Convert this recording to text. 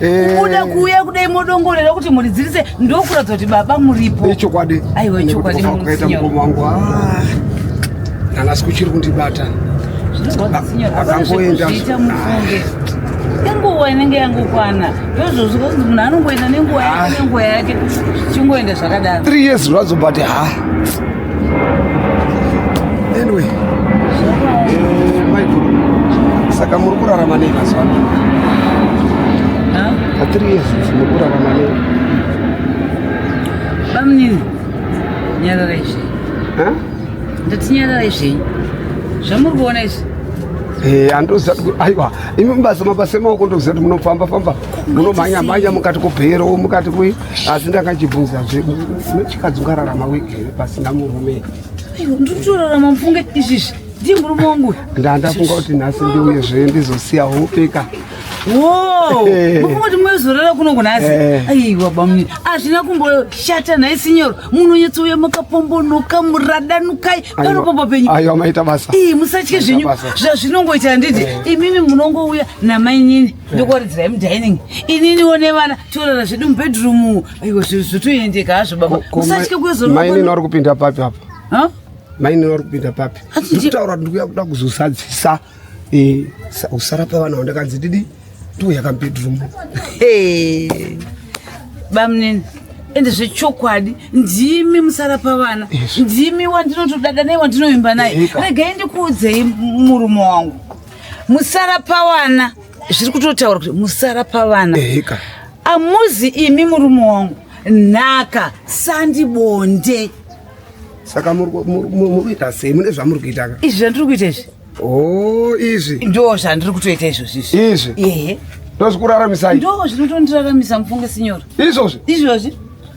Eh. kubuda kuuya kudai modongorera kuti mhuri dzirise ndokuratidza kuti baba muripo ichokwadi aiwa ichokwadi kukaita mukoma wangu ah, ndanga sikuchiri kundibata akangoenda inguva inenge yangokwana ndozvozvo kunzi munhu anongoenda nenguva yake ah. nenguva yake zvichingoenda zvakadaro three years zvazo but ha ah. anyway maiguru eh, saka muri kurarama nei mazuva ano atiri yesus muri kurarama nei bamunini nyarara izvi ndati nyarara izvi zvamuri kuona izvi eh, andoziva kuti aiwa imi mubasa mabasa emaoko ndokuziva kuti munofamba famba munomhanya mhanya mukati kubhero mukati kui asi ndakachibvunza zvedu nechikadzi ungararama wiki here pasina murume ndiri kutorarama mufunge izvizvi ndiye murume wangu ndandafunga kuti nhasi ndiuye zve ndizosiya hope ka mufunga kuti mwezorara kuno kunhasi eh. aiwa bamuni hazvina kumboshata nhai sinyoro munonyatsouya makapombonoka muradanukai panopamba penyu aiwa maita basa ii musatye zvenyu zvazvinongoita handiti eh. imimi munongouya namainini ndokoridzirai mudining ininiwo nevana tiorara zvedu mubedroom aiwa zvotoendeka hazvo baba usatye kuyozomainini wari kupinda papi apa mainini wari kupinda papi ndikutaura kuti ndikuya kuda kuzosadzisa eh, usara pavana wandakanzi didi ndiuya kamubedroom bamunini ende zvechokwadi ndimi musara pavana ndimi wandinotodada naye wandinoimba naye regai ndikuudzei murume wangu musara pavana zviri kutotaura kuti musara pavana ehika amuzi imi murume wangu nhaka sandibonde saka muri ku- muri- muri- muri kuita sei mune zvamuri kuita ka izvi zvandiri kuita izvi o izvi ndo zvandiri kutoita izvozvi izvi izvi ehe ndozvikuraramisai ndo zvinotondiraramisa mufunge sinyora izvozvi izvozvi